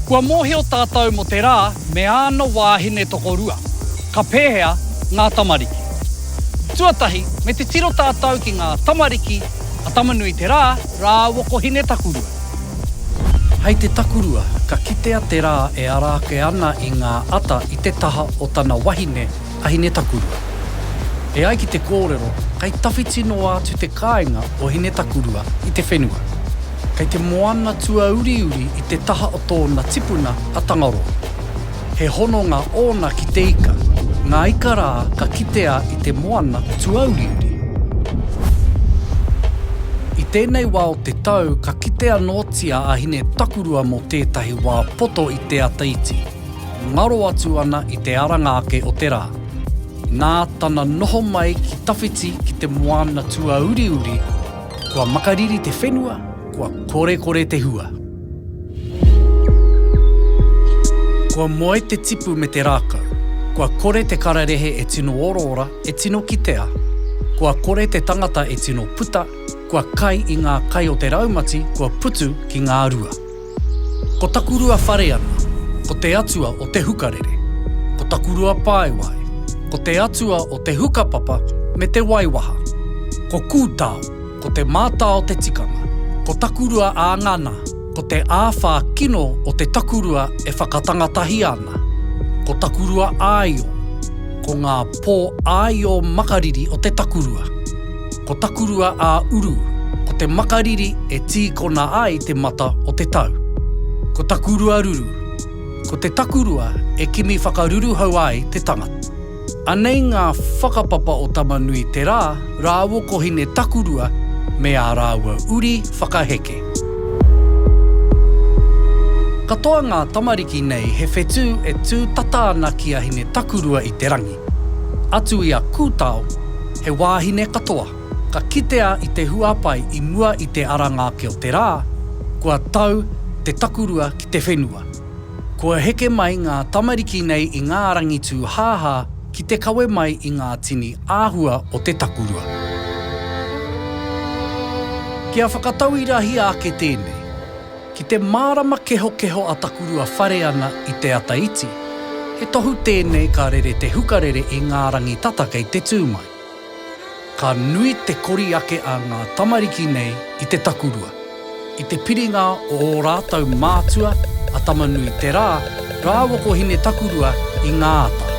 Kua mōhio tātou mō te rā me āna wāhine tokorua. Ka pēhea ngā tamariki? Tuatahi, me te tiro tātou ki ngā tamariki a Tama-nui-te-rā rāua ko Hine-takurua. Hei te takurua, ka kitea te rā e ara ake ana i ngā ata i te taha o tana wahine a Hine-takurua. E ai ki te kōrero, kei tawhiti noa atu te kāinga o Hine-takurua i te whenua. Kei te moana tuauriuri i te taha o tōna tipuna a Tangaroa. He hononga ōna ki te ika. Ngā ika rā ka kitea i te moana tuauriuri. I tēnei wā o te tau ka kite anōtia a Hine Takurua mō tētahi wā poto i te ata iti, ngaro atu ana i te aranga ake o te rā. Nā tana noho mai ki tawhiti ki te moana tuauriuri, kua makariri te whenua, kua korekore te hua. Kua moe te tipu me te rākau. Kua kore te kararehe e tino oraora, e tino kitea. Kua kore te tangata e tino puta, kua kai i ngā kai o te raumati kua putu ki ngā rua. Ko taku rua whare ana, ko te atua o te hukarere. Ko taku rua paewae, ko te atua o te hukapapa me te waiwaha. Ko Kūtao. ko te mātā o te tikanga, ko takurua ā ngana, ko te āwhā kino o te takurua e whakatangatahi ana, ko takurua āio, ko ngā pō āio makariri o te takurua, ko takurua ā uru, ko te makariri e tīkona ai te mata o te tau, ko takurua ruru, ko te takurua e kimi whakaruruhau ai te tangata. Anei ngā whakapapa o Tama-nui-te-rā rāua ko Hine-takurua me ā rāua uri whakaheke. Katoa ngā tamariki nei he whetū e tū tata ana ki a Hine-takurua i te rangi. Atu i a Kūtao, he wāhine katoa, ka kitea i te huapai i mua i te ara ngāke o te rā, kua tau te takurua ki te whenua. Kua heke mai ngā tamariki nei i ngā rangi tūhāhā ki te kawe mai i ngā tini āhua o te takurua. Kia whakatauirahia ake tēnei. Ki te mārama kehokeho a Takurua Whare ana i te ata iti, he tohu tēnei ka rere te hukarere i ngā rangi tata kei te tū mai. Ka nui te kori ake a ngā tamariki nei i te takurua. I te piringa o ō rātou mātua a Tama-nui-te-rā rāua ko Hine-takurua i ngā ata.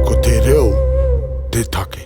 Ko te reo te take.